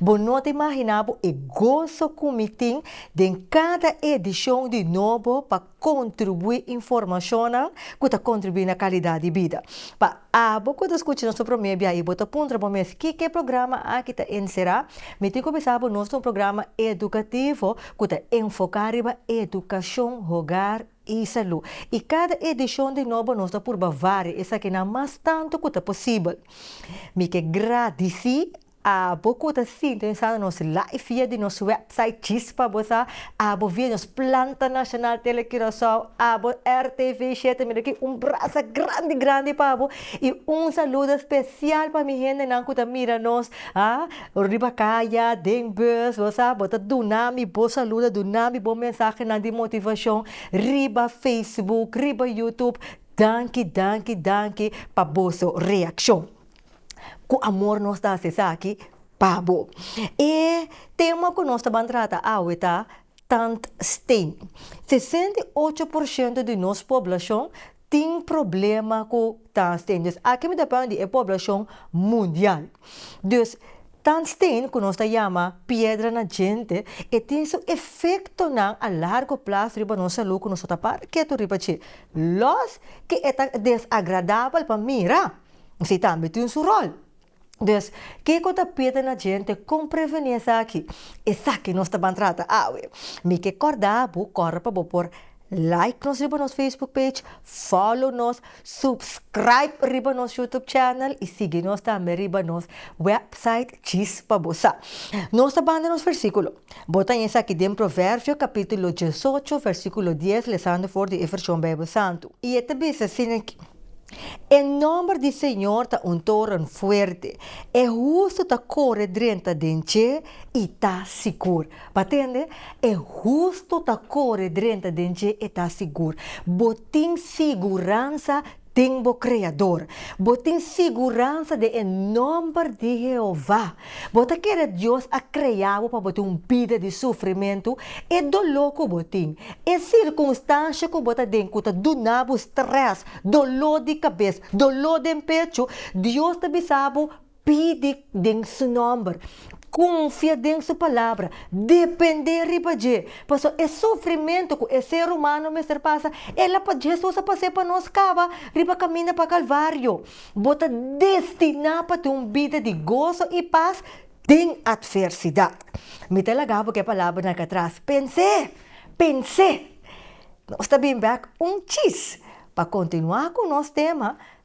Bo no ta imaginá bo e goso ku mi tin den kada edishon di Nobo pa kontribuí informashonnan ku ta kontribuí na kalidat di bida. Pa abo ku ta skucha nos pa promé bia i bo ta puntra bo mes kiko e programa aki ta enserá, mi tin ku bisa bo nos ta un programa edukativo ku ta enfoká riba edukashon, hogar i salú. I kada edishon di Nobo nos ta purba varia esakinan mas tantu ku ta posibel. Mi ke gradisí Abo ku ta sintonisando nos live via di nos website Chispa bo sa, abo via nos planta nacional Tele Curaçao, abo RTV shete mi ta ki un brasa grandi grandi pa bo i un saludo special pa mi hendenan ku ta mira nos ha riba kaya, den bus bo sa bo ta duna mi bo saludo duna mi bo mensahenan di motivacion riba Facebook riba YouTube danki danki danki pa boso reaccion. ku amor nos ta hasi esaki pa bo. E tema ku nos ta ban trata awe ta Tandsteen. Sesenta i ocho por shento di nos poblashon tin problema ku tandsteen. Dus aki mi ta parla di e poblashon mundial. Dus tandsteen ku nos ta yama piedra na djente e tin su efektonan a largo plaso riba nos salú ku nos no ta para ketu riba dje. Lòs ke e ta desagradabel pa mira, si tambe tin su rol. Dus, kiko ta pide na djente kon prevení esaki? Esaki nos ta ban trata awe. Mi ke kòrda bo kòre pa bo por like nos riba nos Facebook page, follow nos, subscribe riba nos YouTube channel i sigui nos tambe riba nos website djis pa bo sa. Nos ta banda nos versíkulo. Bo ta haña esaki den Proverbio capítulo diesocho, versículo dies, lezando for di e version Bijbel Santo. I e ta bisa asina aki, E nomber di Señor ta un toren fuerte, e hustu ta core drenta den dje i ta sigur. Bo a tende? E hustu ta core drenta den dje i ta sigur. Bo tin siguransa tin bo Kreador. Bo tin siguransa den e nòmber di Jehová. Bo ta kere Dios a krea bo pa bo tin un bida di sufrimentu. E doló ku bo tin, e sirkunstansha ku bo ta den ku ta duna bo strès, doló di kabes, doló den pechu, Dios ta bisa bo, Pidi den Su nòmber, konfia den Su Palabra, dependé riba dje. Pasó e sufrimentu ku e ser humano mester pasa, el a, Hesus a pas'é pa nos kaba riba kaminda pa Kalvario. Bo ta destiná pa tin un bida di goso i pas den atversidat. Mi ta laga bo ku e palabranan aki atras, Pens'é! Pens'é! Nos ta bin bèk un chis pa kontinuá ku nos tema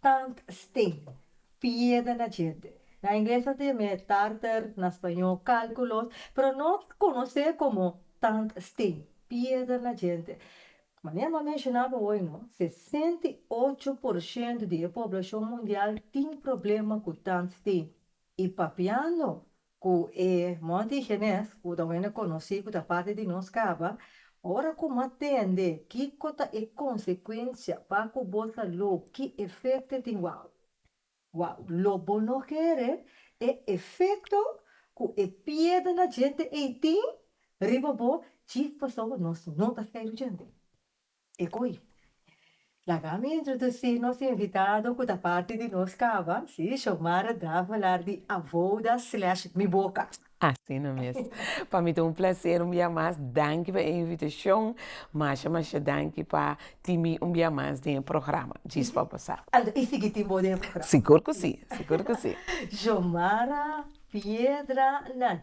Tant stin. Pieda na djente. Na ingles ta tin me tartar, na spañó cálculos, pero no conoce como tant stin. Pieda na djente. Manera m'a menciona bo hoy no, sesenta i ocho por ciento di e poblacion mundial tin problema cu tant stin. Y papiando Ku e Monti Genes, ku ta wende konosí ku ta parti di nos kaba, ora ku bo a tende kiko ta e konsekuensia pa ku bo ta lo, ki efekto e tin? Wou! Wou! Lo bo no kere e efekto ku e piedra na djente ei tin riba bo, dje pasobra nos no ta feru djente. E koi. Laga mi introdusi nos invitado ku ta parti di nos kaba, si, Xiomara Draven lar di Avoda slash Mi Boka. Asina mes. Pa mi ta un plaser un bia mas. Danki pa e invitashon. Masha masha danki pa tin mi un bia mas den e programa. Djis pa bosa. Anto e sigui tin bo den e programa? Sigur ku si, sigur ku si. Xiomara Piedra nan.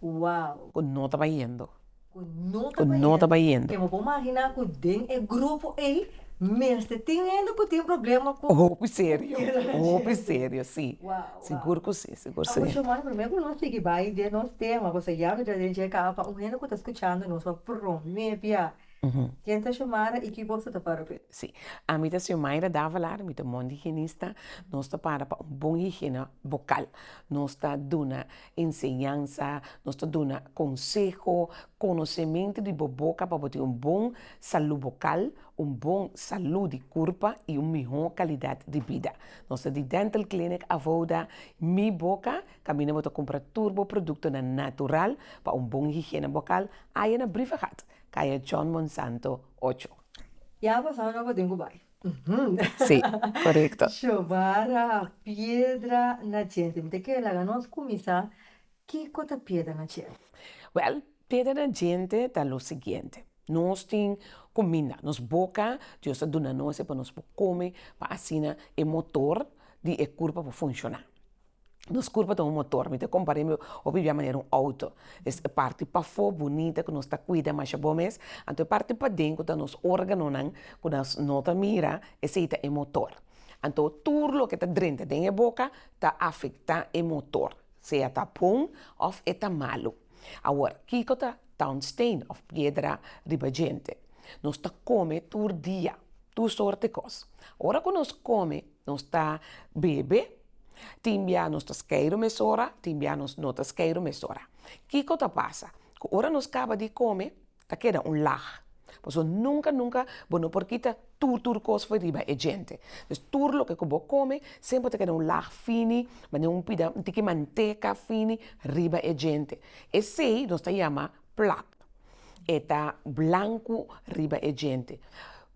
Ku wow. Ku no ta bayendo. Ku no ta bayendo. Ku no ta bayendo. Ke bo por maginá ku den e grupo ei mester tin hende ku tin problema ku. Hopi serio. Ku mira nan. Hopi serio, si. Wow, wow. Sigur ku si, sigur ku si. Amuchu man, promé ku nos sigui bai den nos tema, pasobra ya no ta den dje kaba pa un hende ku ta skuchando nos pa promé bia. Ken ta Xiomara i ki bos ta ta para p'e? Si. Ami ta Xiomaira Davalar, mi ta mondihigienis ta. Nos ta para pa un bon higiene bokal. Nos ta duna Enseñansa, Nos ta duna konseho, konosementu di bo boka pa bo tin un bon salú bokal, un bon salú di kurpa i un mihó kalidat di bida. Nos ta di Dental Clinic Avouda, Mi Boca, kaminda bo ta kumpra tur bo produktonan natural pa un bon higiena bokal, aya na Briefergat, kaya John Monsanto ocho. Ya a pasá ora bo tin ku bai. Sí, korekto. Shobara piedra na djente. Mi ta kere laga nos kuminsá kiko ta piedra na djente? Wèl, piedra na djente ta lo siguiente, nos tin kuminda, nos boka, Dios a duna nos e pa nos por kome pa asina e motor di e kurpa por funshoná. Nos kurpa ta un motor, mi ta kompar'é mi hopi bia manera un outo, es e parti pafó bunita ku nos ta kuida masha bon mes, anto e parti paden ku ta nos órganonan ku nos no ta mira, esei ta e motor, anto tur loke ta drenta den e boka ta afektá e motor, sea ta bon òf e ta malu. Awor, kiko ta tòngsteen òf piedra riba djente? Nos ta kome tur dia, tur sòrte kos, ora ku nos kome Nos ta bebe, tin bia nos ta skeiru mesora, tin bia nos no ta skeiru mesora. Kiko ta pasa? Ku ora nos kaba di kome ta keda un lag, paso nunka nunka bo no por kita tur tur kos for riba e djente. Pues tur loke ku bo kome semper ta keda un lag fini, manera un pida un tiki manteka fini riba e djente. Esei nos ta yama. plak e ta blanku riba e djente.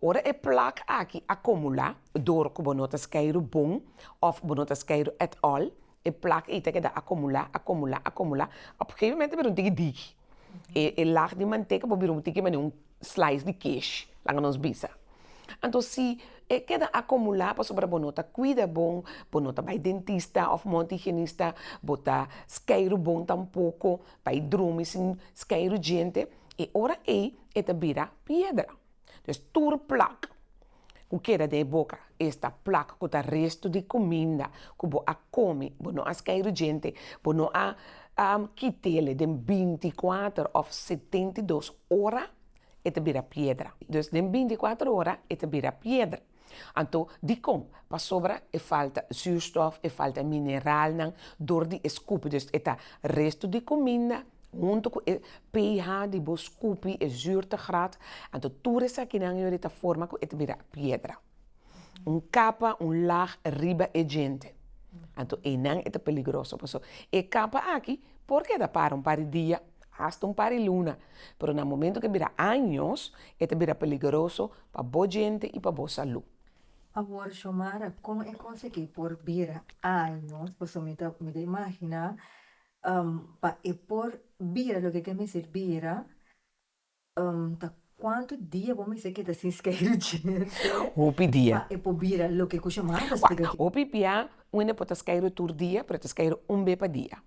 Ora e plak aki a komulá dor ku bo no ta skeiru bon òf bo no ta skeiru at all, e plak i ta keda a komulá, a komulá, a komulá, op e gegemoment ta bira un tiki diki, e e lag di manteka por bira un tiki manera un slais di kesh, laga nos bisa. Anto si e keda a komulá pasobra bo no ta kuida bon, bo no ta bai dentista òf mondhigienista, bo ta skeiru bon tampoko, pa e drumi sin skai rujiente, e ora ei e ta bira piedra. Pues tur plak ku keda den e boka, esta plak ku ta restu di kuminda ku bo a kome, bo no a skai rujiente, bo no a kit'e den binti i kuater òf setenta i dos ora, e ta bira piedra. Dus den binti i kuater ora e ta bira piedra. Anto, dikon? Pasobra e falta zuurstof, e falta mineralnan dor di e skupi. Dus e ta restu di kuminda huntu ku e pH di bo skupi, e zuurtegraad, anto tur esakinan yori ta forma ku e ta bira piedra. Un kapa, un laag, riba e djente. Anto einan e ta peligroso. Pasobra e kapa aki por keda para un par di dia, hasta un par di luna, pero na momentu ku e bira años, e ta bira peligroso pa bo djente i pa bo salú. Awor Xiomara, kon e konsegí por bira año? Pasobra mi ta mi ta imaginá pa e por bira loke ke mester bira ta kuantu dia bo mester keda sin skei di djente hopi dia pa e por bira loke ku Xiomara ta spliká aki. Hopi bia Un e por ta skere tur dia, pero e ta skere un be pa dia,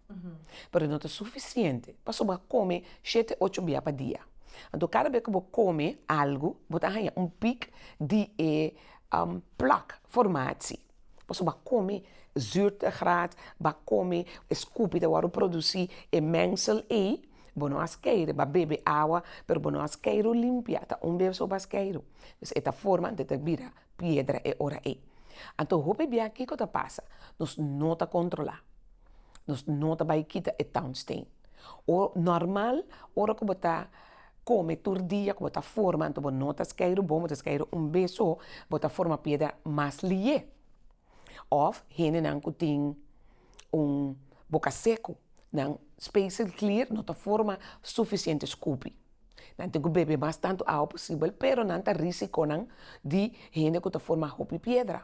pero no ta sufisiente paso bo a come shete ocho bia pa dia, anto cada be ku bo come algu bo ta haña un pik di e plak formatie, paso bo a come zurtegraad, bo a come e skupi ta wòrdu produsi e mengsel ei, bo no a skere bo a bebe awa pero bo no a skere limpia ta un be so bo a skere, dus e ta forma anto e ta bira piedra e ora ei. Anto hopi bia kiko ta pasa? Nos no ta kontrolá, nos no ta bai kita e townstain. O nòrmal ora ku bo ta kome tur dia ku bo ta forma anto bo no ta skei rubon bo ta skei un be so bo ta forma piedra mas liye òf hendenan ku tin un boka seku nan spacel clear no ta forma sufisiente skupi. Nan tin ku bebe mas tantu awa posibel, pero nan ta risikonan di hende ku ta forma hopi piedra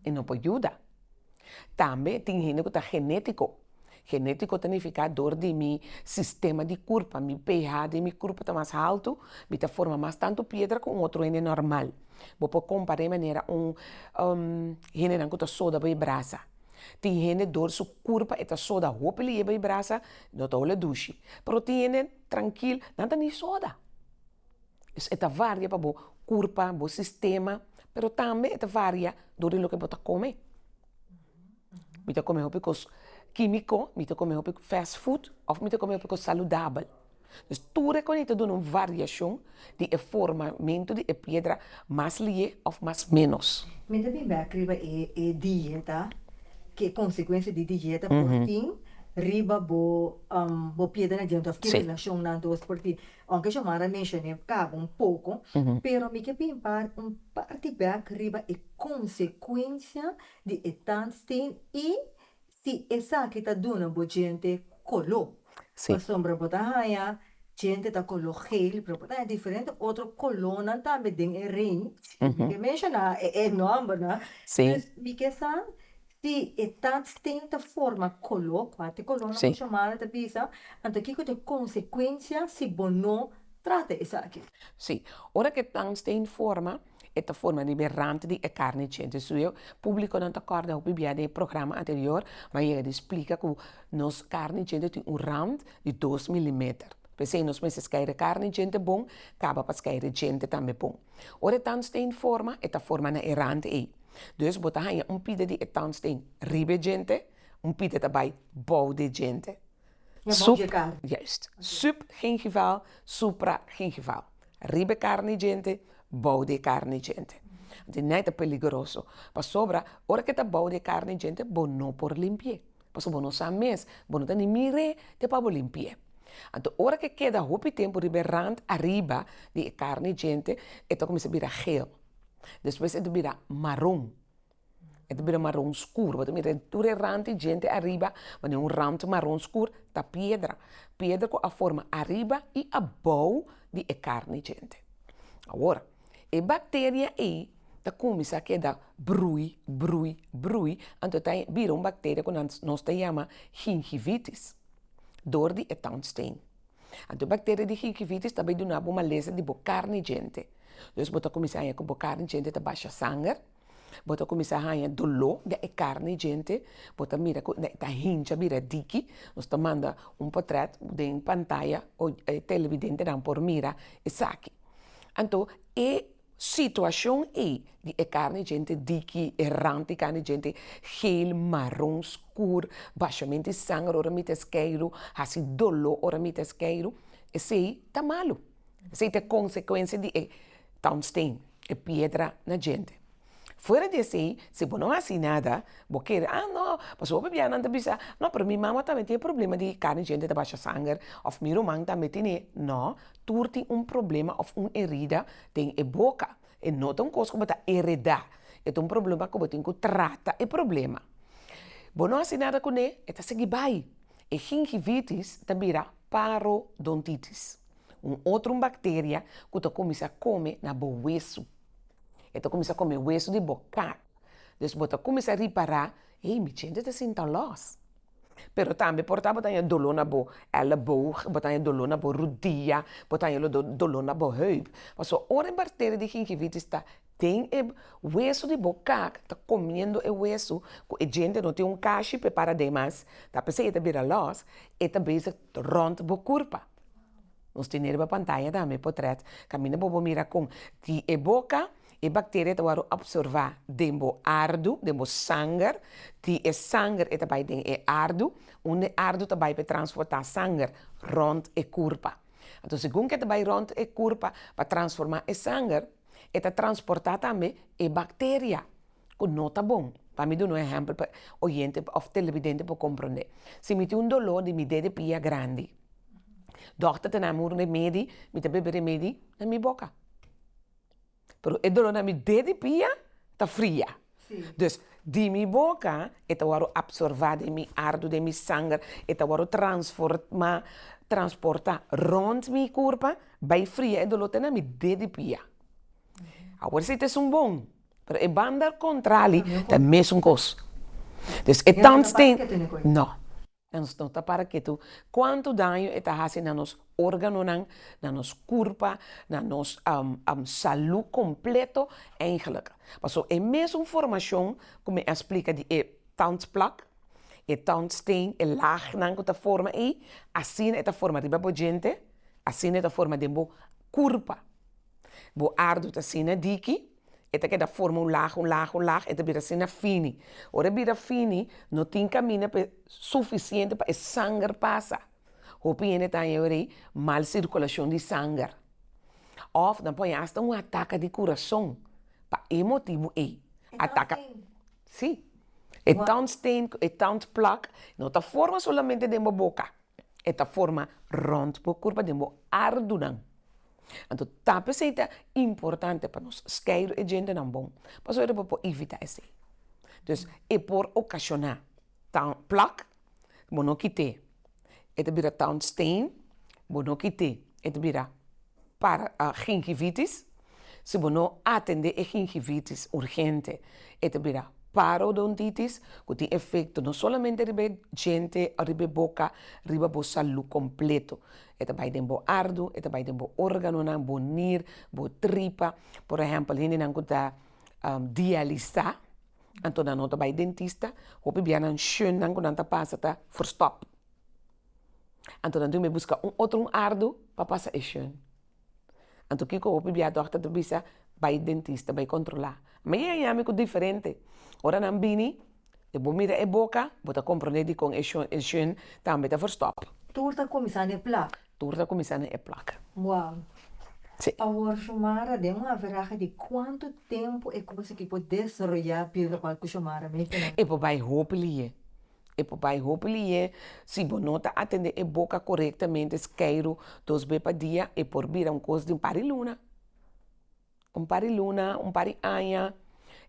i no por yuda. Tambe tin hende ku ta genetiko, genetiko ta nifiká dor di mi sistema di kurpa, mi PH den mi kurpa ta mas haltu, mi ta forma mas tantu piedra ku un otro hende nòrmal. Bo por kompará e manera un hendenan ku ta soda bo e brasa. Tin hende dor su kurpa e ta soda hopi li yeba e brasa i no ta ola dushi. Pero tin hende trankil, nan ta ni soda. E ta varia pa bo kurpa, bo sistema, pero tambe e ta varia dor di loke bo ta kome. Mi ta kome hopi kos kimiko, mi ta kome hopi fast food of mi ta kome hopi kos saludabel. Pues tur e konito duna un variashon di e formamentu di e piedra mas lié òf mas ménos. Mi ta bin bèk riba e e dieta, ki e konsekuensia di dieta por tin riba bo bo piedernan diente òf ki relashonnan dos por tin. Aunke Xiomara a menshoné kaba un poko, pero mi ke bin par un parti bèk riba e konsekuensia di e tandsteen i. si esaki ta duna bo djente coló. Pasobra bo ta haña djente ta coló geel, pero bo ta haña diferente otro colónan tambe den e range cu mi ke menshoná e nòmbernan. Dus mi ke sa si e tatsteen ta forma coló, cu a te colónan bo shomá nan ta bisa, anto kiko ta e consecuencia si bo no trata esaki? Sí, ora ku e tangsteen forma. e ta forma riba e rant di e karni djenti su eu, publikonan ta kòrda hopi bia den e programa anterior nan yega di splika ku nos karni djente tin un rant di dos milimeter, pesei nos mester skeiere karni djente bon kaba pa skeiere djente tambe bon. Ora e tandsteen forma e ta forma na e rant ei, dus bo ta haña un pida di e tandsteen riba e djente, un pida ta bai bou de djente. Subgingival, supragingival, riba e karni djente, bou di e karni djente. Anto nai ta peligroso, pasobra ora ke ta bou di e karni djente bo no por limpi'é, pasobra bo no sa mes, bo no ta ni mir'é te pa bo limpi'é. Anto ora ke keda hopi tempu riba e rand ariba di e karni djente, e ta kuminsá bira geel, despues e ta bira maron. E ta bira maron skur, bo ta mira tur e ran tin djente ariba ma den un ran maron skur ta piedra, piedra ku a forma ariba i abou di e karni djente. Awor, e bakteria ei ta kuminsá keda brui, brui, brui, anto ta bira un bakteria ku nos ta yama gingivitis dor di e tongstein. Anto e bakteria di gingivitis ta bai duna bo malesa di bo karni djente, dus bo ta kuminsá ku bo karni djente ta basha sanger, bo ta kuminsá haña doló den e karni djente, bo ta mira ku ta hincha bira diki, nos ta manda un potrèt den pantaya o e televidentenan por mira esaki, anto e situashon ei di e karni djente diki, e rant di karni djente geel, maron, skuur, bashament di sanger ora mi ta skeiru, hasi doló ora mi ta skeiru, esei ta malu. Esei ta e konsekuensia di e tungsten, e piedra na djente. Fuera di esei, si bo no hasi nada, bo kere, ah no, pasobra hopi biahanan ta bisa, no, pero mi mama tambe tin e problema di kani djente ta basha sanger, òf mi ruman tambe tin'é, no, tur tin un problema òf un herida den e boka, e no ta un kos ku bo ta heredá, e ta un problema ku bo tin ku trata e problema. Bo no hasi nada kuné, e ta sigui bai, e gingivitis ta bira parodontitis. un otro bacteria cu ta cuminsa come na bo hueso, e ta cuminsa come hueso di bo cat, dus bo ta cuminsa ripara ey mi chente ta sinta los, pero tambe por tabata bo ta haña dolo na bo elleboog, bo ta haña dolo na bo rudia, bo ta haña dolo na bo heup, pasobra ora e bacteria di gingivitis ta. Ten e wesu di bo kak ta komiendo e wesu ku e djente no tin un kashi prepara den mas ta p'esei e ta bira lòs e ta bezig rònt bo kurpa. Nos tene riba pantaya tambe potrèt kaminda bobo mira kon di e boka e bakteria ta wòrdu opservá den bo ardu, den bo sanger, di e sanger e ta bai den e ardu, unda e ardu ta bai p'e transportá sanger rònt e kurpa. Anto segun ku e ta bai rònt e kurpa pa transformá e sanger. e ta transportá tambe e bacteria ku no ta bon, ta mi duna un ehèmpel pa oyente òf telebidente por komprondé. Si mi tin un doló di mi det di pia grandi, dòkter ta dami un remedi, mi ta bebe remedi na mi boka, pero e doló na mi det di pia ta fria. Dus, di mi boka e ta wòrdu apsorbá den mi ardu, den mi sanger, e ta wòrdu transformá, transportá, rònt mi kurpa, bai fria e doló te na mi de di pia. Awor si ta esun bon, pero e banda kontrali ta mesun kos. Nunka mas ke tene koi. No. Nos no ta para ketu kuantu daño e ta hasi na nos organonan, na nos kurpa, na nos salú kompleto eindelijk. Paso e mesun formashon ku mi a splika di e tandplak, e tandsteen, e lagnan ku ta forma ei, asina e ta forma riba bo djente, asina e ta forma den bo kurpa. Bo ardo ta asina diki. e ta keda forma un lag, un lag, un lag, e ta bira asina fini, ora e bira fini no tin kaminda pa e suficiente pa e sanger pasa, hopi hende ta haña weri mal circulacion di sanger, of nan por haña hasta un ataca di curason pa e motibu ey, ataca si, e tong stain, e tong plug no ta forma solamente den bo boca, e ta forma rond bo kurpa den bo ardunan, anto tape esei ta importante pa nos skei e djentenan bon pasobra nan por evitá esei, dus e por okashona town plak bo no kité e ta bira town steen bo no kité e ta bira. para gingivitis. Si bo no atendé e gingivitis urgente e ta bira parodontitis ku tin efekto no solamente riba e djente o riba e boka riba bo salú kompleto. E ta bai den bo ardu, e ta bai den bo órganonan, bo nir, bo tripa, por ehèmpel hendenan ku ta dialisá anto nan no ta bai dentista, hopi bianan shunnan ku nan ta pasa ta verstop. Anto nan dun be buska un otro un ardo pa pasa e shon, anto kiko hopi bia dòkter ta bisa bai dentista bai kontrolá, ma ye a yami ku diferente ora nan bini e bo mira e boka bo ta komprende dikon e shon e shon tambe ta verstòp. Tur ta kuminsá na e plak. Tur ta kuminsá na e plak. Wou. Sí. Awor Shomara den un averaha di kuantu tempu e kos aki por desaroyá biruba ku Shomara mei tene? E por bai hopi lihé. E por bai hopi lihé, si bo no ta atendé e boka korektamente skeiru dos be pa dia e por bira un kos di un par di luna, un par di luna, un par di aña,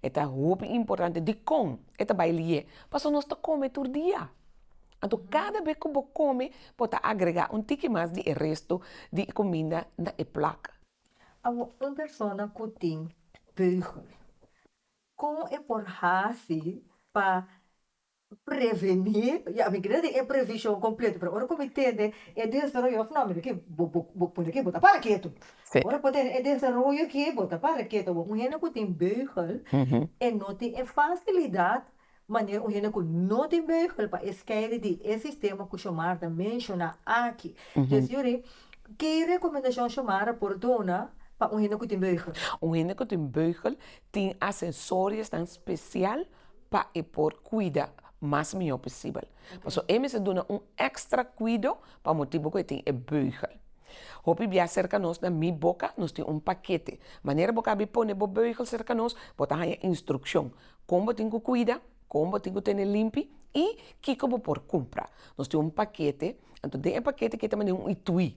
e ta hopi importante dikon e ta bai lihé? Paso nos ta kome tur dia, anto kada be ku bo kome bo ta agregá un tiki mas di e resto di kuminda na e plak. Awor un persona ku tin beugen Kon e por hasi pa prevení? Ya, mi keda tin e previshon kompleto, pero ora ku mi tende e desaroyo òf nò, mi di, bo, bo, bo pone ki, bo ta para ketu. Sí. Ora bo tene e desaroyo ki, bo ta para ketu. Bo un hende ku tin beugel, e no tin e fasilidat. Manera un hende cu no tin Bijbel pa e skeri di e sistema cu Xiomara menciona aki. Djis yuri, ki recomendacion Xiomara por duna pa un hende cu tin Bijbel? Un hende cu tin Bijbel tin asesoriasnan special pa e por cuida mas miho posibel. Pasobra e mester duna un extra cuido pa motibo cu e tin e Bijbel. Hopi bia cerca nos na Mi Boca nos tin un paquete. Manera bo cabe pone bo Bijbel cerca nos, bo ta haya instruccion Kon bo tin ku kuida, kon bo tin ku tene limpi i kiko bo por kumpra. Nos tin un pakete, anto den e pakete ke ta mande un itui,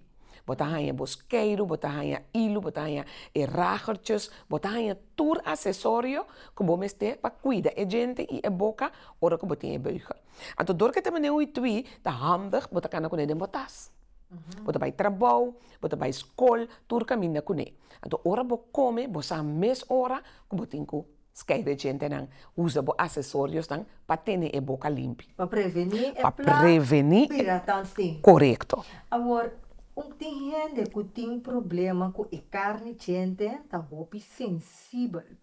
bo ta haña bo skeiru, bo ta haña ilu, bo ta haña e ragertjes, bo ta haña tur asesorio ku bo mester pa kuida e djente i e boka ora ku bo tin e beugel. Anto dor ke ta mande un itui ta handig bo ta kana kune den bo tas, bo ta bai trabou, bo ta bai skol, tur kaminda kune. Anto ora bo kome bo sa mes ora ku bo tin ku. Skei de djentenan, Usa bo asesoriosnan pa tene e boka limpi. Pa prevení e pla. Pa prevení e. Bira tan tin. Korekto. Awor, un tin hende ku tin problema ku e karni djente ta hopi sensibel.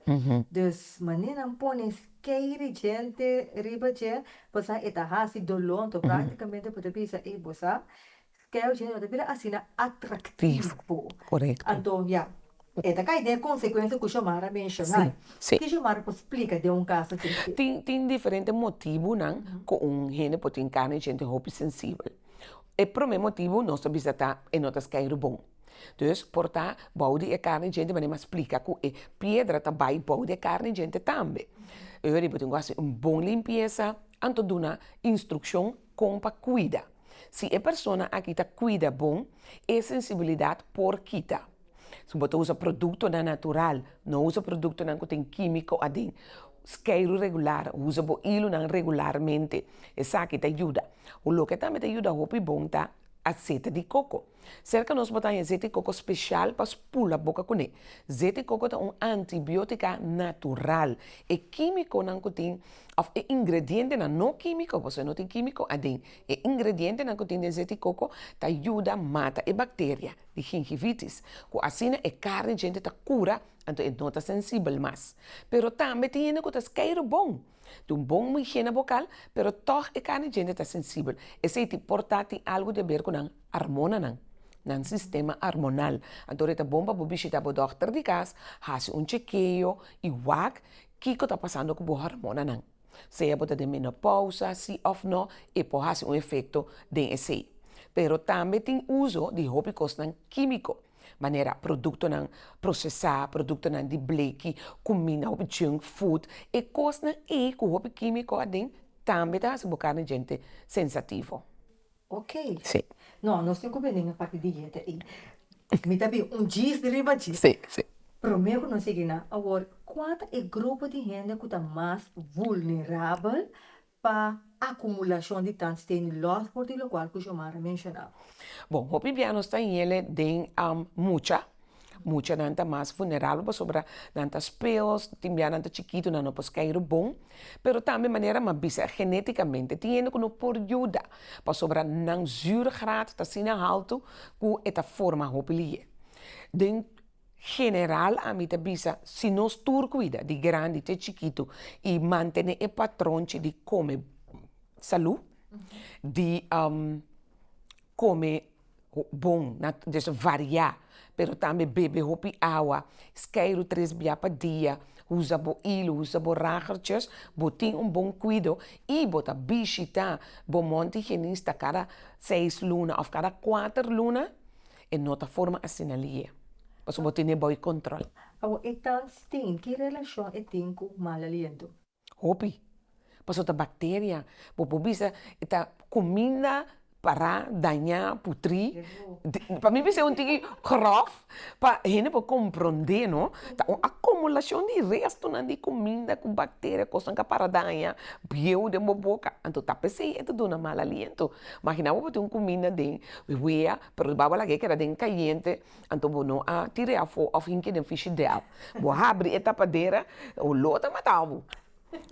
Dus manera nan pone skei de djente riba dje, pasá e ta hasi doló. Anto, praktikamente bo ta bisa, ey bo sa Scale dje no ta bira asina atractivo. Anto ya, e ta cay den e consecuencia cu Xiomara menciona. Ki Xiomara por splica den un caso así? Tin, tin diferente motibonan cu un hende por tin carne djente hopi sensibel. E prome motibo nos ta bisa ta e no ta scale bon. Dus, por ta bou di e carne djente manera m'a splica cu e piedra ta bay bou di e carne djente tambe. Ey, bo tin cu haci un bon limpieza, anto duna instruccion Kon pa kuida. Si e persona aki ta kuida bon, e sensibilidat por kita. Si bo ta usa produktonan natural, no usa produktonan ku tin kímiko aden. Skeiru regular, usa bo ilunan regularmente. Esaki ta yuda. Loke tambe ta yuda hopi bon ta aseta di koko. Serka nos bota haña zeti koko spesial pa spula boka kuné. Zeti koko ta un antibiótika natural. E kímikonan ku tin, òf e ingredientenan, no kímiko, pasobra no tin kímiko aden, e ingredientenan ku tin den zeti koko ta yuda mata e bakteria di gingivitis, ku asina e kar di djente ta kura, anto e no ta sensibel mas. Pero tambe tin hende ku ta skei rubon. Tin bon muhé na bokal, pero tòg e karni djente ta sensibel. Esei tin por ta tin algu di haber ku nan armonanan, nan sistema armonal. Anto e ta bon pa bo bishita bo dòkter di kas, hasi un chekeo i wak kiko ta pasando ku bo harmonanan. Sea bo ta den menopousa sí òf nò, e por hasi un efekto den esei. Pero tambe tin uso di hopi kosnan kímiko. manera produktonan prosesá, produktonan di bleki, kumina hopi junk food, e kosnan ei ku hopi kímiko aden tambe ta hasi bo karni djente sensativo. Ok, no nos tin ku bini na parti dieta ei, mi ta bin un djis di riba djis, promé ku nos sigui nan awor, kua ta e grupo di hende ku ta mas vulnerabel pa akumulashon di tandsten di lòsbord di lokual ku Xiomara a menshona. Bon, hopi bia nos ta yele den mucha, mucha nan ta mas funeralnan pasobra nan ta speels, tin bia nan ta chikitu nan no por skeiru bon, pero tambe manera m'a bisa e genetikamente tin hende ku no por yuda pasobra nan zürgraad ta asina haltu ku e ta forma hopi liyé. Den. General ami ta bisa si nos tur kuida di grandi te chikitu i mantene e patron chi di kome salu, di kome bon des variá pero tambe bebe hopi awa skei ru tres bia pa dia usa bo ilu usa bo ragertjes bo tin un bon kuido i bo ta bishita bo monti genista kada seis luna of kada kuater luna. E no ta forma asina lie. Pasobra bo tene bou e control. Awo e tantstin ki relacion e tin cu mal aliento? Hopi. Paso ta bacteria. Bo por bisa e ta cuminda para, daña, putri. Pa mi bisa e un tiki grof pa hende por compronde no. Ta un acumulacion di restonan di cuminda cu bacteria cosnan ca para daña bieu den bo boca. Anto ta p'esei e ta duna mal aliento. Magina bo bo tin un cuminda den wea Pero riba bo laga e keda den kayente, anto bo no a tira e afó òf hinki den fishidèl. Bo a habri e tapadera, oló ta mata bo.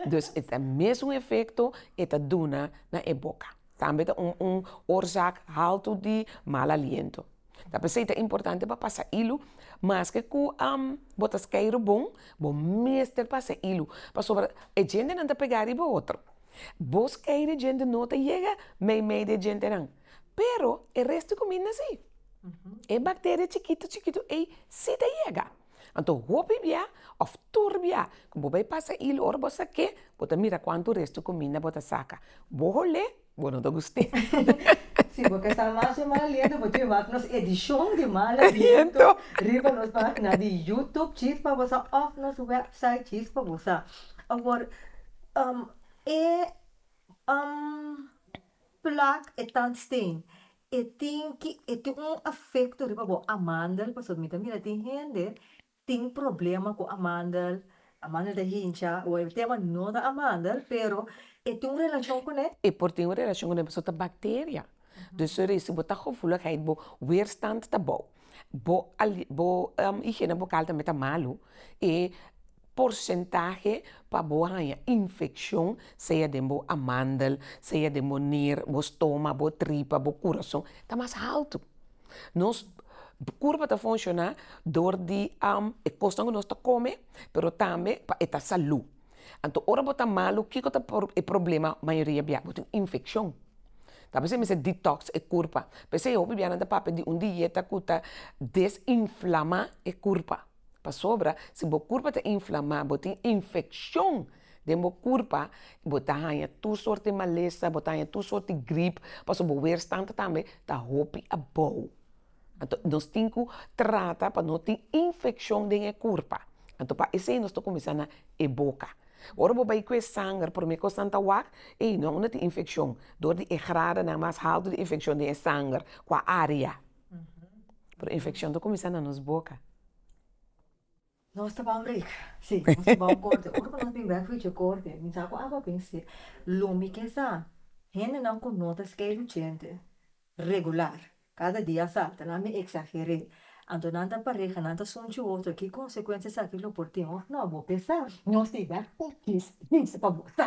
Dus e ta mesun efekto e ta duna na e boka. Tambe ta un un orzak haltu di mal aliento. Ta p'esei ta importante pa pasa ilu, maske ku bo ta skei rubon, bo mester pasa ilu, pasobra e djentenan ta pegá riba otro. Bo skei di djente no ta yega meimei di e djentenan. Pero e res di kuminda si. E bakteria chikitu chikitu ei si ta yega. Anto hopi bia òf tur bia ku bo bai pasa ilu ora bo sa ke bo ta mira kuantu res di kuminda bo ta saka. Bo hol'é bo no ta guste. Si bo ke sa masha mal aliento bo tin wak nos edishon di mal aliento riba nos pagina di yutup Chispa Bosa òf nos wèpsait Chispa Bosa. Awor e. Plak e tandsteen e tin ki e tin un afekto riba bo amandel pasobra mi ta mira tin hende tin problema ku amandel amandel ta hincha o e tema no ta amandel pero e tin un relashon kuné. E por tin un relashon kuné pasobra ta bakteria, dus resi bo ta gevoeligheid bo weerstand ta bou bo ali bo higiene bucal tambe ta malu y porcentahe pa bo haña infeccion sea den bo amandel, sea den bo nier, bo stoma, bo tripa, bo curason ta mas alto, nos curpa ta funciona door di e cosnan cu nos ta come pero tambe pa e ta salud. Anto ora bo ta malu kiko ta por e problema mayoria bia? Bo tin infeccion, ta besey mester detox e curpa, p'esey e hopi bianan ta papia di un dieta cu ta desinflama e curpa, pasobra si bo curpa ta inflama, bo tin infeccion den bo curpa, bo ta haña tur sorte malesa, bo ta haña tur sorte grip, pasobra bo weerstand tambe ta hopi abou. Anto nos tin ku trata pa no tin infekshon den e kurpa, anto pa esei nos ta kuminsá na e boka, ora bo bai ku e sanger promé kos nan ta wak ei no una tin infekshon dor di e gradanan mas haltu di infekshon den e sanger ku a área, pero infekshon ta kuminsá na nos boka. Nos ta ban break si nos ta ban corte ora cu nos bin bek fuichi e corte mi sa cu awa bin ser lo mi ke sa hendenan cu no ta skei luchente regular cada dia a salta nan mi exagere anto nan ta pareha nan ta sunchi otro ki consecuencia esaki lo por tin of no bo pensar nos tin bek fuichi si pa bo sa.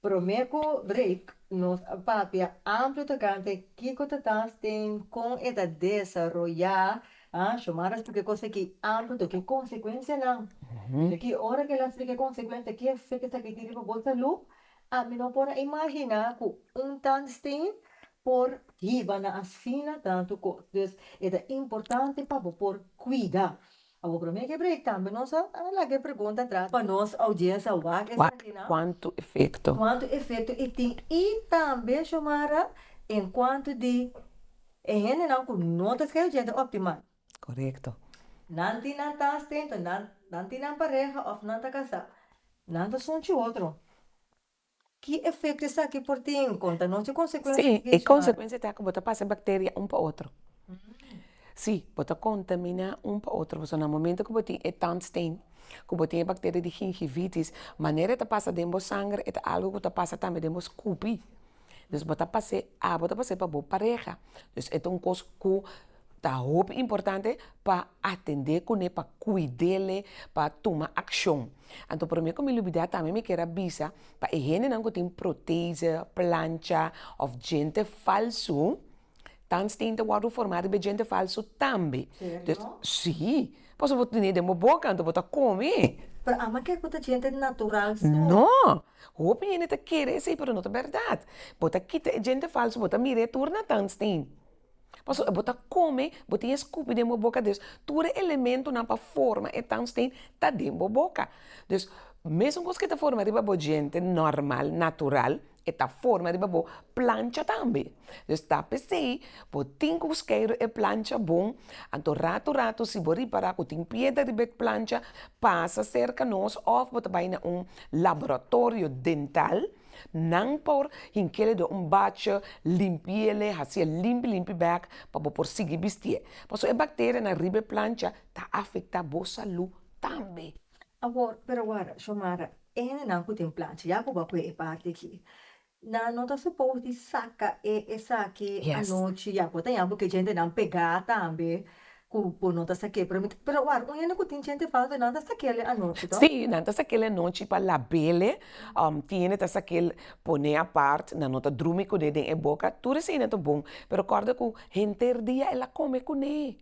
Promé ku break nos a papia amplu tokante kiko ta tas den kon e ta desaroyá Xiomara splika e kos aki amplu tok e konsekuensianan i ki ora ke la splika e konsekuensia ki efek ki esaki tin riba bo salú ami no por a imaginá ku un tandsteen por hiba na asina tantu kos. Entonces e ta importante pa bo por kuida Awor prome ke break tambe nos a laga e pregunta atras pa nos oudiensia wak esaki nan. Wak kuantu efekto. Kuantu efekto e tin i tambe Xiomara en kuantu di e hendenan ku no ta skei oudiente optimal. Korekto. Nan tin nan ta stento nan tin nan pareha òf nan ta kasá nan ta sunchi otro. Ki efekto esaki por tin konta nos? Ki konsekuensia tin? Sí, e konsekuensia ta ku bo ta pasa bakteria un pa otro. Sí, bo ta kontaminá un pa otro. Pasobra na momento ku bo tin e tandstein, ku bo tin e bakteria di gingivitis, manera e ta pasa den bo sanger e ta algu ku ta pasa tambe den bo skupi. Bo ta pas'é, abo ta pas'é pa bo pareha. Pues e ta un kos ku Ta hopi importante pa atendé kuné, pa kuid'ele, pa tuma akshon. Anto promé ku mi lubidá tambe mi ker a bisa pa e hendenan ku tin proteze, plancha òf djente falsu, tandsteen ta wòrdu formá riba e djente falsu tambe. Serio? Sí, pasobra bo ta tene den bo boka, anto bo ta kome. Pero amo a ker ku ta djente natural so. No! Hopi hende ta kere esei pero no ta bèrdat. Bo ta kita e djente falsu, bo ta mir'é tur na tandsteen. Pasobra bo ta kome, bo tin e skupi den bo boka, dus tur e elementonan pa forma e tandsteen ta den bo boka. Dus, mesun kos ke ta forma riba bo djente nòrmal, natural, e ta forma riba bo plancha tambe. Dus ta p'esei bo tin ku skeiru e plancha bon, anto ratu ratu si bo ripará ku tin piedra riba e plancha, pasa serka nos òf bo ta bai na un laboratorio dental, Nan por hink'é den un bacha, limpi'é, hasi'é limpi limpi bèk pa bo por sigui bisti'é. Pasobra e bakterianan riba e plancha ta afektá bo salú tambe. Awor, pero wada, Xiomara, hendenan ku tin plancha, ya ku bo a kue e parti aki, nan no ta supos di saka e esaki anochi, ya ku bo ta yabi ku e djentenan pegá tambe, Cu bo no ta saqué promete. Pero awor, un hende cu tin djente falso, nan ta saquéle anochi to? Sí, nan ta saquéle anochi pa labéle. Tin hende ta saquél poné apart, nan no ta drumi cuné den e boca. Tur esei nan ta bon, pero corda cu henter dia el a come cuné.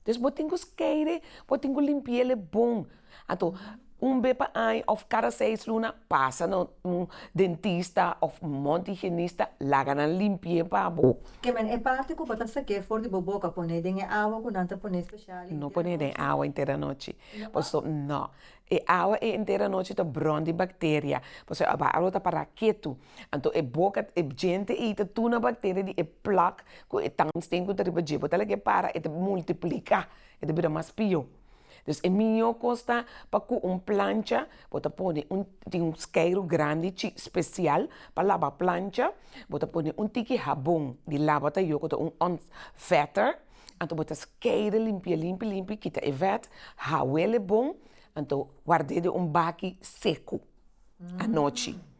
Dus bo tin cu skeire, bo tin cu limpiéle bon. Anto, un be pa aña òf kada seis luna pasa na un dentista òf un mont di higienista, laga nan limpi'é pa bo. Kem'é e parti ku bo ta sak'é for di bo boka, pon'é den e awa ku nan ta pon'é spesial e No pon'é den awa enter anochi, pasobra, nò, e awa e enter anochi ta bròn di bakteria, pasobra e awa lo ta para ketu, anto e boka, e djente ei ta tuna bakteria di e plak ku e tangsten ku ta riba dje, bo ta laga e para e ta multiplika, e ta bira mas pio. Pues e mihó kos ta pa ku un plancha bo ta pone un tin skeiru grandi chi special pa laba plancha bo ta pone un tiki habon di laba ta yo ku ta un on vetter anto bo ta skeide limpia limpi limpi kita e vet hawele bon anto guard'e den un baki seku anochi.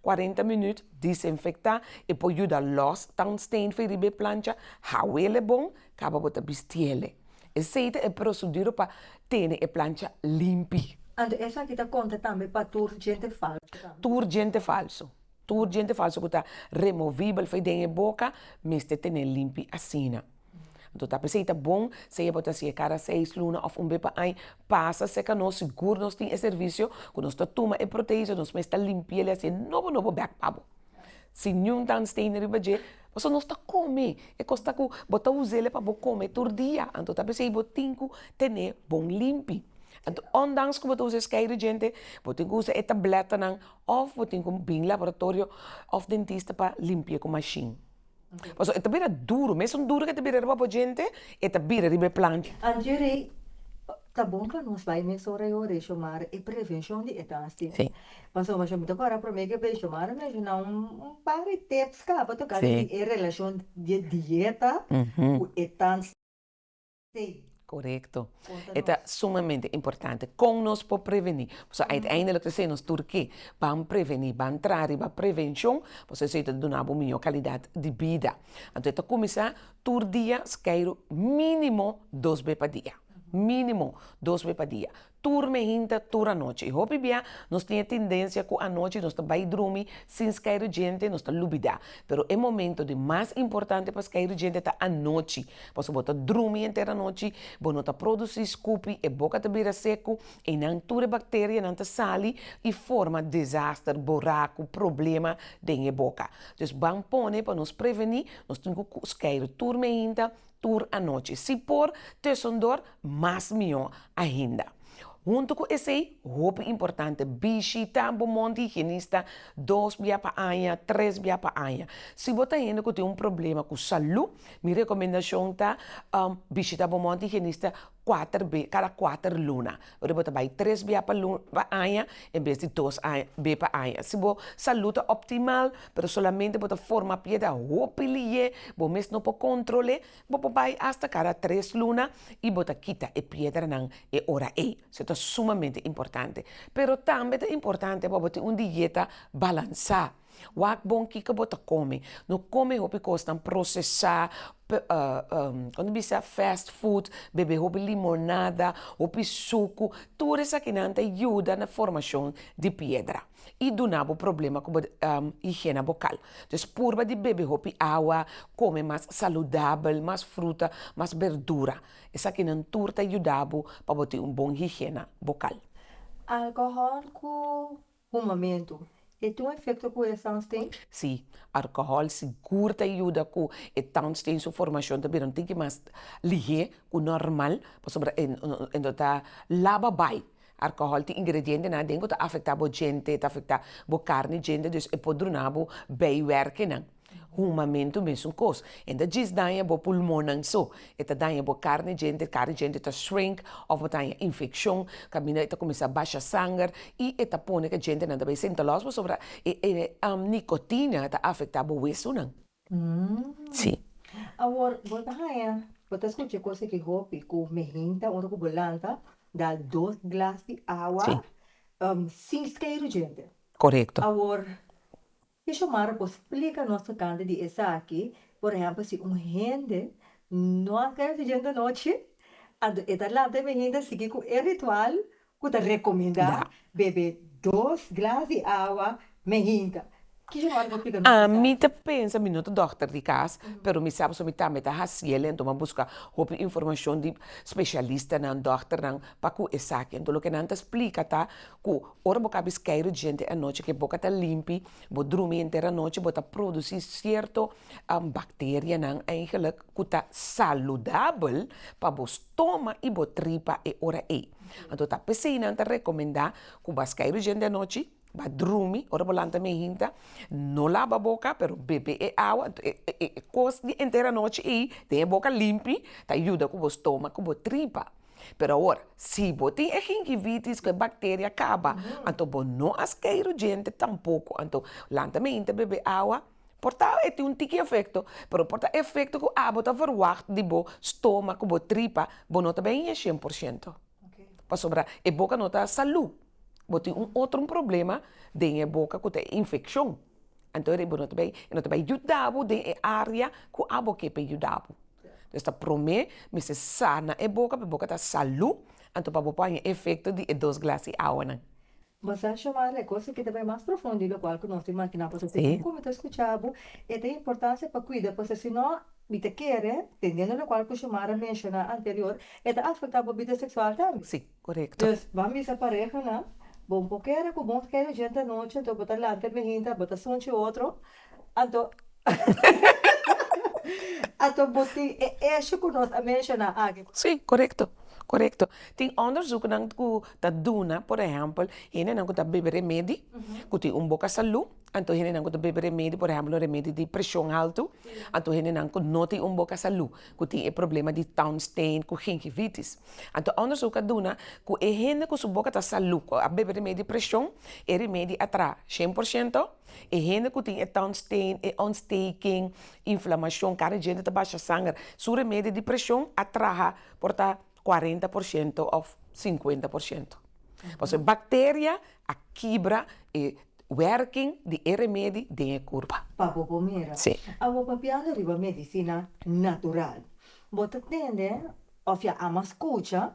Cuarenta minüt, disinfecta y por yuda los tungsteen fi riba e plancha, hawele bon, caba bota bistiele. Esey ta e proceduro pa tene e plancha limpi. Anto esaki ta conta tambe pa tur djente falso tambe? Tur djente falso. Tur djente falso cu ta removibel fi den e boca mester tene limpi asina. Anto ta p'esei ta bon si'e bo ta si'e cada seis luna of un be pa aña pasa seca nos sigur nos tin e servicio cu nos ta tuma e protein so nos mes ta limpiel y haci'e nobo nobo bek pa bo. Si niun tandstenen riba dje pasobra nos ta come e cos tacu bo ta use'e pa bo come tur dia anto ta p'esei bo tin cu tene bon limpi anto ondanks cu bo ta usa e skei rigente bo tin cu usa e tabletnan of bo tin cu bin laboratorio of dentista pa limpi'e cu machine. Pasobra e ta bira duru, mesun duru ku e ta bira riba bo djente, e ta bira riba e planta. Angie Rey, Ta bon pa nos bai mes ora i ora i Xiomara e prevenshon di e dasti. Pasobra mi ta kòrda promé ke bes Xiomara menshoná un par di tips kaba tokante di e relashon di e dieta ku e dasti. Te. Korekto. E ta sumamente importante. Kon nos por prevení? Pasobra uiteindelik ta ser nos tur ke ban prevení, ban traha riba prevenshon, pasobra esei ta duna bo un mihó kalidat di bida. Anto e ta kuminsá tur dia, si kai minimo dos be pa dia, minimo dos be pa dia. tur mehinta, tur anochi. I hopi bia nos tin e tendensia ku anochi nos ta bai drumi sin skai rugente, nos ta lubidá. Pero e momento di mas importante pa skai rugente ta anochi, pasobra bo ta drumi enter anochi, bo no ta produsí skupi, e boka ta bira seku, ei nan tur e bakterianan ta sali i forma desaster, boraku, problema den e boka. Dus ban pone pa nos prevení, nos tin ku skai tur mehinta, tur anochi. Si por Tussendor, mas mihó ainda. Huntu ku esei, hopi importante, bishitá bo mont di higienista dos bia pa aña, tres bia pa aña. Si bo ta hende ku tin un problema ku salú, mi rekomendashon ta bishitá bo mont di higienista. kuater be, kada kuater luna. Ora bo ta bai tres bia pa lu, pa aña, en bes di dos a, be pa aña. Si bo salú ta òptimal, pero solamente bo ta forma pie dje hopi liye, bo mes no por kontrol'é, bo por bai asta kada tres luna i bo ta kita e piedranan e ora ei. So ta sumamente importante. Pero tambe ta importante pa bo tin un dieta balansá. Wak bon kiko bo ta kome. No kome hopi kosnan prosesá, kiko ta bisa fast food, bebe hopi limonada, hopi suku, tur esakinan ta yuda na formashon di piedra i duna bo problema ku bo higiena bokal. Entonces purba di bebe hopi awa, kome mas saludabel, mas fruta, mas berdura. Esakinan tur ta yuda bo pa bo tin un bon higiena bokal. Alkohòl ku Un momentu, e tin un efekto ku e towns tin? Sí, alkohòl sigur ta yuda ku e towns tin su formashon ta bira un tiki mas lihé ku nòrmal, pasobra e no ta laba bai. Alkohòl tin ingredientenan aden ku ta afektá bo djente, ta afektá bo karni djente, dus e por druna bo beiwerkenan. Humamentu mesun kos. E ta djis daña bo pulmonnan so. E ta daña bo karni djente, karni djente ta shrink òf bo ta haña infekshon, kaminda e ta kuminsá basha sanger i e ta pone ku e djentenan ta bai senta lòs pasobra e nikotina ta afektá bo wesunan. Sí. Awor, bo ta haña, bo ta skucha e kos aki hopi ku mi hinta ora ku bo lanta, da dos glas di awa sin skeiru djente. Korekto. Awor, Ki Xiomara por splica nos tocante di esaki, por ehemplo si un hende no a keda fijente anochi, anto e ta lanta e beginda sigui cu e ritual cu ta recominda bebe dos glas di awa mehinta. Ki Xiomara por splica nos di esaki? Mi ta pensa, mi no ta dokter di cas, pero mi sa pasobra mi tambe ta haciel enton mi a busca hopi informacion di specialistanan, dokternan pa cu esaki. Enton loke nan ta splica ta Ku ora bo kapis keiru djente anochi ke boka ta limpi, bo drumi enter anochi bo ta produsi sierto bacterianan eigenlik ku ta saludabel pa bo stoma i bo tripa e ora ei. Anto ta p'esei nan ta rekomendá ku bas keiru djente anochi, ba drumi, ora bo lanta me hinta no laba boka pero bebe e awa e kos di enter anochi ei den e boka limpi ta yuda ku bo stoma ku bo tripa. Pero awor, si bo tin e gingivitis ku e bakteria kaba, anto bo no a stay rujente tampoko. Anto, lanta mainti ta bebe awa. Por ta e tin un tiki efekto, pero por ta efekto ku abo ta verwagt di bo stoma ku bo tripa, bo no ta beni e shen por shento. Pasobra e boka no ta salu. Bo tin un otro problema den e boka ku ta e infekshon. Anto, bo no ta beni. E no ta bai yuda bo den e área ku abo ke pa e yuda bo. Dios ta promé mester sana e boka p'e boka ta salú, anto pa bo por haña efekto di e dos glas di awanan. Mester shomar e kos ke ta bai mas profundo di lokual ku nos tin imaginá, pasobra segun ku mi ta skuchá bo, e ta importansia pa kuida, pasobra si no mi ta kere, tendiendo lokual ku Xiomara menshoná anterior, e ta afektá bo bida seksual tambe. Sí, korekto. Dios, bo a misa parehanan, Bo no por kere ku bo kere djenta anochi, anto bo ta lanta e behinta, bo ta sunchi otro, Anto anto bo tin e esho ku nos a menshoná aki? Sí, korekto, korekto. Tin òndersùknan ku ta duna, por ehèmpel, hendenan ku ta bebe remedi ku tin un boka salú, anto hendenan ku ta bebe remedi, por ehèmpel, un remedi di preshon haltu, anto hendenan ku no tin un boka salú, ku tin e problema di tònstèn ku gingivitis. Anto òndersùk a duna ku e hende ku su boka ta salú, ku a bebe remedi di preshon, e remedi a traha shen por shento E hende ku tin e tungsteen, e ontsteking, inflamashon, kada dje di ta basha sanger, su remedio di preshon a traha por ta kuarenta por shento òf sinkuenta por shento. Pasobra e bakteria a kibra e wèrking di e remedi den e kurpa. Pa bo bo mira. Sí. Awo papiando riba medisina natural, bo ta tende òf ya a mas kucha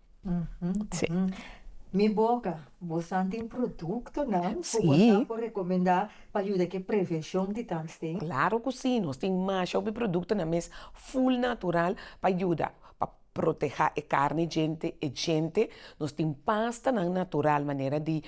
Si. Mi boca, bosan tin productonan cu bosan por recomenda pa yuda cu e prevencion di tangsten? Si, claro cu si, nos tin masha hopi productonan mes full natural pa yuda pa proteha e carni djente, e djente, nos tin pastanan natural manera di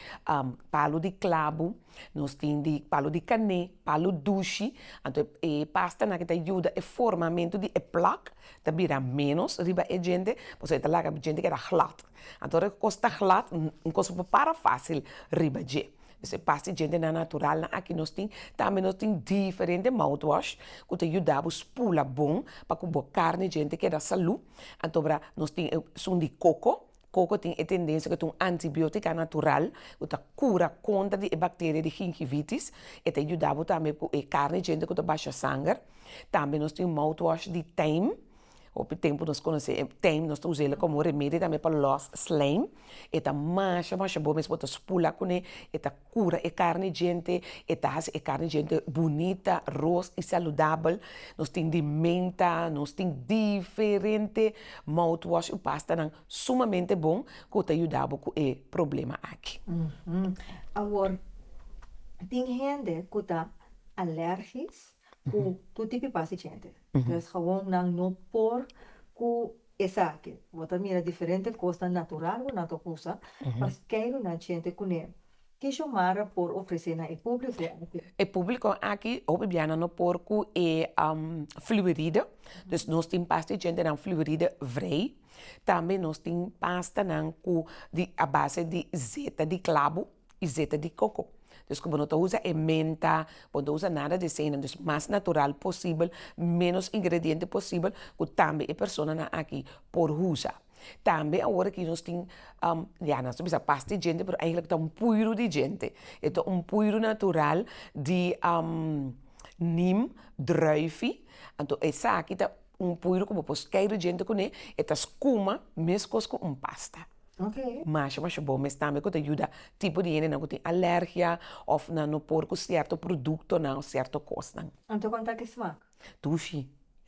palo di clavo. Nos tin di palu di kané, palu dushi, anto e pastanan ke ta yuda e formamentu di e plak ta bira ménos riba e djente, pasobra e ta laga djente keda glat, anto ora e kos ta glat un kos por para fásil riba dje, pues e pasta di djentenan naturalnan aki nos tin, tambe nos tin diferente mouthwash ku ta yuda bo spula bon pa ku bo karne djente keda salú, anto nos tin esun di koko. Koko tin e tendensia ku e ta un antibiotika natural ku ta kura kontra di e bakteria di gingivitis, e ta yuda bo tambe ku e karni djente ku ta basha sanger, tambe nos tin un mouthwash di teim, hopi tempu nos konosé e teim nos ta usa ela komo remedio tambe pa loss slijm, e ta masha masha bon mes bo ta spula kuné e ta. Cura e carne djente, e ta haci e carne djente bunita, roos y saludabel. Nos tin di menta, nos tin diferente mouthwash y pastanan sumamente bon cu ta yuda bo cu e problema aki. Awor, tin hende cu ta alergisch cu tur tipo di pasta diente entonces gawon nan no por cu esaki bo ta mira diferente cosnan natural cu nan ta usa pa key di nan diente cu ne ki xiomara por ofrece na e publico aki. E publico aki hopi bia nan no por cu e fluoride dus nos tin pasta diente nan fluoride vrij tambe nos tin pastanan cu di a base di zeta di clavo. y zeta di coco. Dus cu bo no ta usa e menta, bo no ta usa nada di esey nan, dus mas natural posibel, menos ingrediente posibel cu tambe e personanan aki por usa. Tambe awor aki nos tin ya nan ta bisa pas di djente pero eigenlijk ta un puiru di djente, e ta un puiru natural di nim, druifi, anto esaki ta un puiru cu bo por scay di djente cune, e ta scuma mescos cu un pasta. Masha masha bon mes tambe ku ta yuda tipo di hendenan ku tin alergia òf nan no por ku sierto produktonan òf sierto kosnan. Dushi,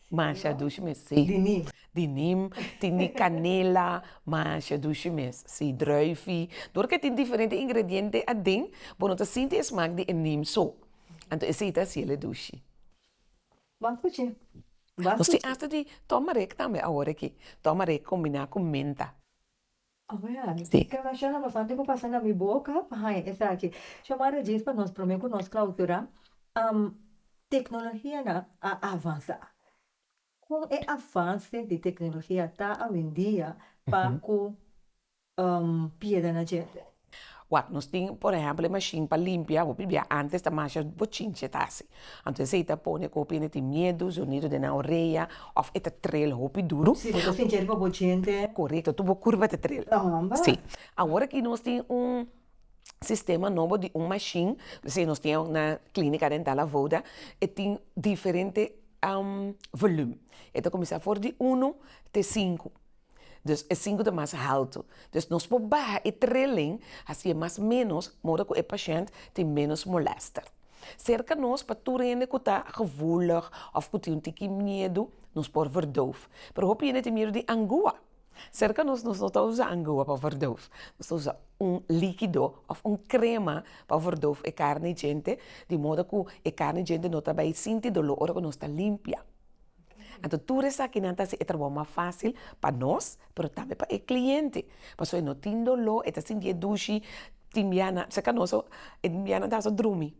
masha dushi mes si. Di nim, tin di kanela, masha dushi mes si, drùifi, di ora ku e tin diferente ingrediente aden, bo no ta sinti e smak di e nim so, anto esei ta hasiel e dushi. Bo a scuche, bo a scuche. Nos tin asta di turmeric tambe awor aki, turmeric combina cu menta. Oh ya, ken mashana bastante cu pasa na mi boca pa haña esaki. Sho mari djis pa nos prome cu nos clausura, tecnologia na a avansa, con e avance di tecnologia ta awendia pa cu pieda na djente. Wak, nos tin por ehempel e mashin pa limpia, bo pibia antes ta masha bochinchi e ta hasi, anto esei ta pone cu hopi hende tin miedu, zonido den nan orea, of e ta trel hopi duru. Si bo ta sinti riba bo djente. Corecto, tur bo curva ta trel. Ta homba. Si, awor aki nos tin un sistema nobo di un mashin, esei nos tin awor na clinica dental Avoda, e tin diferente volum, e ta cuminsa for di uno te sinku. dus e sinku ta mas haltu, dus nos por baha e trilling hasié mas menos modo ku e pashènt tin menos molèster. Serka nos pa tur hende ku ta gevoelig òf ku tin un tiki miedu nos por verdoof, pero hopi hende tin miedu di angua. Serka nos nos no ta usa angua pa verdoof, nos ta usa un likido òf un krema pa verdoof e karni djente di modo ku e karni djente no ta bai sinti doló ora ku nos ta limpia. Anto tur esakinan ta hasi e trabou mas fasil pa nos pero tambe pa e kliente, pasobra e no tin doló, e ta sinti e dushi, tin bia nan serka nos so e tin bianan ta haso drumi,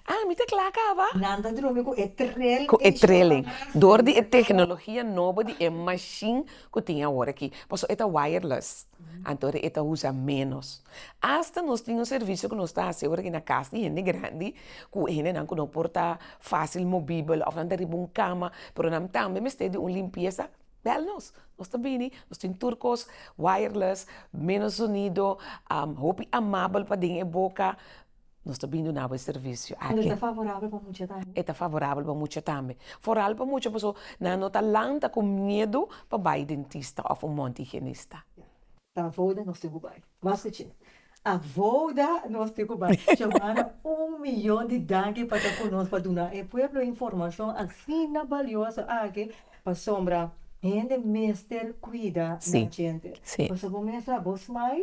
ah mi ta kla kaba, nan ta drumi ku e trel ku e trelen dor di e teknologia nobo di e mashin ku tin awor aki, pasobra e ta wireless. Anto e ta usa ménos. Asta nos tin un servisio ku nos ta hasi ora i na kas di hende grandi, ku e hendenan ku no por ta fásil mobibel òf nan ta riba un kama, pero nan tambe mester di un limpiesa, bèl nos, nos ta bini, nos tin tur kos wireless, ménos sonido, hopi amabel paden e boka. Nos ta bini dunabo e servicio aki. Ende ta favorabel pa mucha tambe. E ta favorabel pa mucha tambe. Foral pa mucha pasobra nan no ta lanta ku miedu pa bai dentista òf un mont higienista. Ta avouda nos tin ku bai. Mas ku chin. Avouda nos tin ku bai. Xiomara un miyon di danki pa ta ku nos pa duna e pueblo informashon asina balioso aki pasobra hende mester kuida nan djente. Pasobra bo mester a bos mai.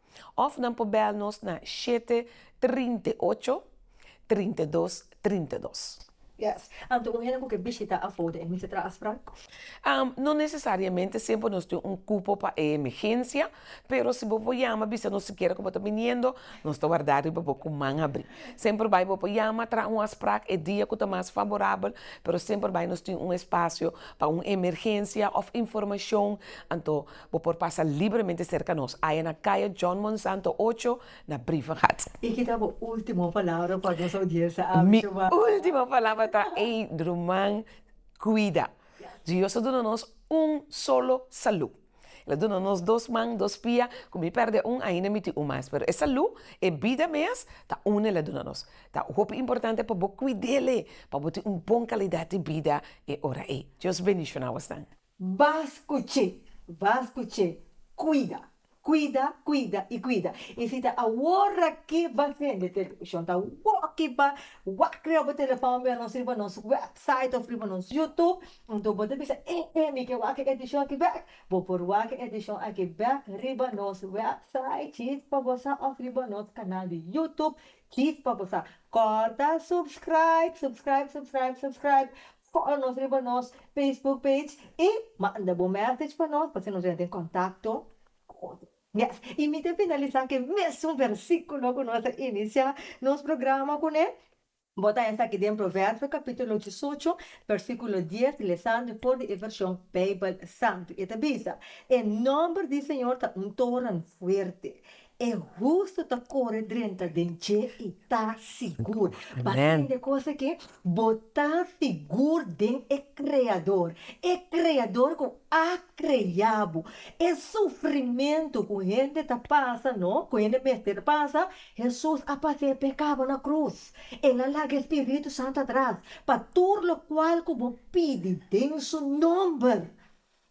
Òf nan por bèl nos na shete trinta i ocho trinta i dos trinta i dos. Anto un hende ku ke bishitá afó di e mester traha afspraak? No nesesariamente semper nos tin un kupo pa e emegensia, pero si bo por yama bisa nos sikiera ku bo ta biniendo, nos ta warda riba bo ku man abri. Semper bai bo por yama traha un afspraak e dia ku ta mas faborabel, pero semper bai nos tin un espasio pa un emergensia òf informashon, anto Bo por pasa libremente serka nos aya na Kaya John Monsanto ocho na Brievengat. I ki ta bo ultimo palabra pa nos audiensia awe? Mi ultimo palabra ta ey ruman cuida. Dios a duna nos un solo salud. El a duna nos dos man, dos pia. Cu mi perde un ainda mi tin un mas. Pero e salud, e bida mes ta un el a duna nos. Ta hopi importante pa bo cuid'e, pa bo tin un bon calidad di bida e ora ey. Dios bendiciona bo asnan. Bas kuchi, bas kuchi, kuida, kuida, kuida i kuida. I si ta awor aki bas hende televishon ta woki pa wak riba bo telefòn wèn òf riba nos wèpsait òf riba nos yutub, anto bo ta bisa e e mi ke wak e edishon aki bèk. Bo por wak e edishon aki bèk riba nos wèpsait Chief pa bo sa òf riba nos kanal di yutub Chief pa bo sa. Kòrta subscraib, subscraib, subscraib, subscraib. Cor nos riba nos Facebook page y manda bo message pa nos pa haci nos yenten contacto cu otro. Yes y mi ta finalisa cu e mesun versiculo cu nos a inicia nos programa cu ne, bo ta esaki den Proverbio capitulo diesocho versiculo dies lesando for di e version Bijbel Santo y e ta bisa, E nomber di Señor ta un toren fuerte E hustu ta kore drenta den dje i ta sigur. Pa tende kos aki, bo ta sigur den e Kreador, e Kreador ku a krea bo. E sufrimentu ku hende ta pasa, no, ku hende mester pasa, Hesus a pas'é p'e kaba na krus. El a laga e spiritu santu atras pa tur lokual ku bo pidi den su nòmber.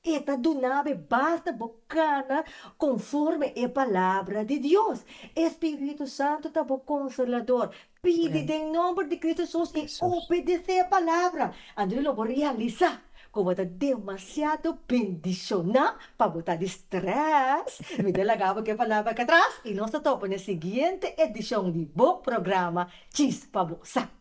E ta dunabe basta bo kana konforme e Palabra di Dios. E spiritu santu ta bo Konsolador. Pidi den nomber di Cristo Hesus i obedesé e Palabra. Anto lo bo realisá ku bo ta demasiado bendishoná pa bo ta di strès. Mi ta laga bo ku e palabra akatras i nos ta topa na e siguiente edishon di bo programa Djis pa bo sa.